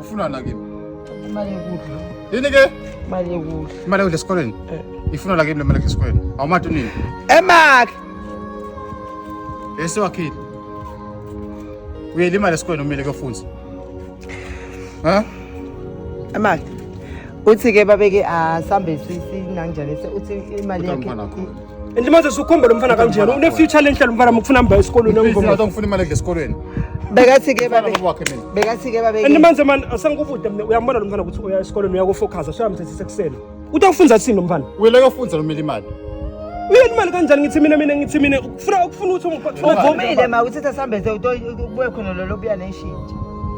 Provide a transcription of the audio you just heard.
Ufuna na kimi? Imali yokudla. Yini ke? Imali yokudla. Imali yokudla esikoleni? Eh. Ifuna la kimi le mali esikoleni. Awumathi unini? Emakhe. Bese wakhile. Uyele imali esikoleni umile kuyofundza. Ha? Emakhe. Uthi ke babeke asambe sisi nanjalo uthi imali yakhe. and manje sukhomba lo mfana kanjena une-future lenhle lo mfana mufuna mba esikolweni engifuna imali edla esikolweni bekathi-ke bekathi-ke babe and manje mani asengikubude mina uyambona lo mfana ukuthi uya esikolweni uyakufocusa soyamthethisa ekuseni uthi awufunza thini lo mfana uyeleke ufunza lo mele imali uyeni imali kanjani ngithi mina mina ngithi mina ukufuna ukufuna ukuthi uvumile ma uthetha sambethe ubuye khona lolo buya neshintshi